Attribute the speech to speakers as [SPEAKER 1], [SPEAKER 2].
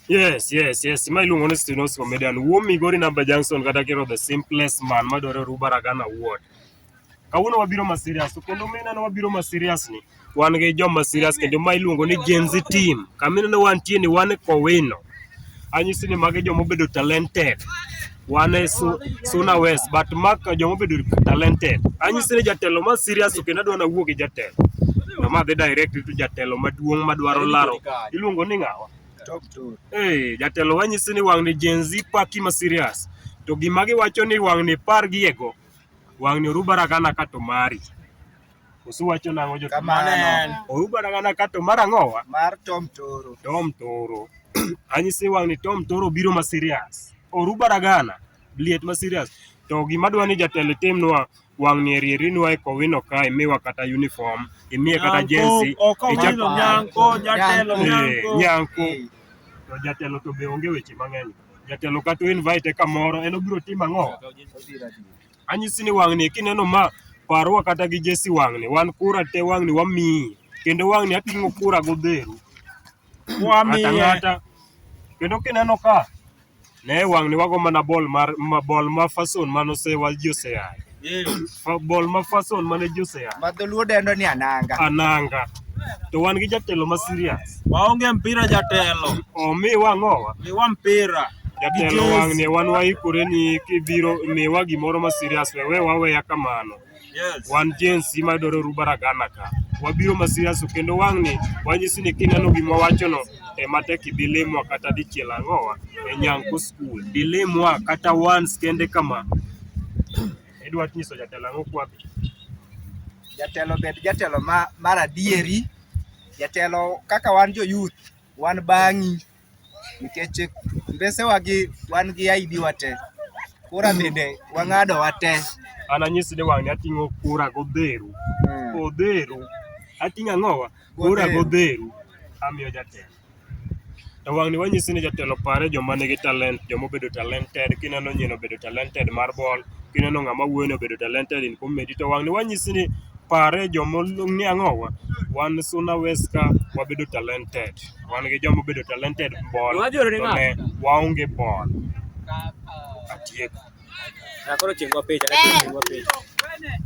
[SPEAKER 1] Yes, yes, yes. Ma iluongo ni Stenosko Median. Wuo Migori Namba Junction kata kiro the simplest man madwaro Ruba Ragana Ward. Kawuono wabiro ma serious to kendo mineno wabiro ma serious ni wan gi joma serious kendo ma iluongo ni Gen Z team. Kamineno wantie ni wan e Kowino. Anyisi ni magi joma obedo talented. wan e Suna West but mak joma obedo talented. Anyisi ni jatelo ma serious to kendo adwa nawuo gi jatelo. To ma dhi direct to jatelo maduong' madwaro laro. Iluongo ni ng'awa? Eh, jatelo wanyisi ni wang' ni Gen Z paki ma serious. To gima giwacho ni wang' ni par gi ego. Wang' ni orubara gana ka to mari. Koso wacho nang'o jo Kamano. Oruba
[SPEAKER 2] nang'ana ka to
[SPEAKER 1] mar ang'owa? Mar Tom Toro.
[SPEAKER 2] Tom Toro.
[SPEAKER 1] Anyisi wang' ni Tom Toro biro ma serious. Oruba ragana liet ma serious. To gima dwa ni jatelo timnwa wang' ni erieri nwa e kowino kae miwa kata uniform, imiye kata jersey. Ichako nyanko jatelo nyanko. Nyanko. To jatelo to be onge weche mang'eny. Jatelo kata invite kamoro en obiro timo ang'o? Anyisi ni wang'ni kineno ma parwa kata gi Jesse wang'ni wan kura te wang'ni wamiyi kendo wang'ni ating'o kura godheru ng'ata Wamiye. ng'ata kendo kineno ka ne wang'ni wago mana bol mar ma bol ma fason mane osewal ji oseyaye Eh, Fa- bol ma fason mane ji oseyaye ma dholuo dendo ni
[SPEAKER 2] ananga ananga to wan
[SPEAKER 1] gi jatelo ma serious Waonge mpira
[SPEAKER 3] jatelo. Omi wang'owa.
[SPEAKER 1] Miwa mpira.
[SPEAKER 3] Jatelo wang'
[SPEAKER 1] ne wan waikore ni kibiro miwa gimoro ma serious wewe waweya kamano. Yes. Wan Gen Z ma dwaro ruba ragana ka. Wabiro ma serious kendo wang' ni wanyisi ni kineno gima wachono e matek ibilimwa kata dichiel ang'owa e Nyanko School. Dilimwa kata once kende kama. Idwa nyiso jatelo ang'o kwapi?
[SPEAKER 2] Jatelo bed jatelo ma mar adieri. Jatelo kaka wan jo youth wan bang'i nikech mbesewa gi wan gi ID wa te. Kura bende wang'ado wa te. An anyisi ni
[SPEAKER 1] wang'ni ating'o kura godheru. Hmm. Odheru. Ating'o ang'owa? Kura godheru. Amiyo jatelo. E wang'ni wanyisi ni jatelo pare joma nigi talent, joma obedo talented. Kineno nyino obedo talented mar bol, kineno ng'ama wuoyo ni obedo talented in comedy to wang'ni wanyisi ni pare joma olung' ni ang'o wa? Wan Suna West ka wabedo talented. Wan gi joma obedo talented bol, Wajorore to ng'a? ne waonge bol.
[SPEAKER 3] Atieko.
[SPEAKER 1] Ah, koro
[SPEAKER 3] chingwa picha, koro chingwa picha.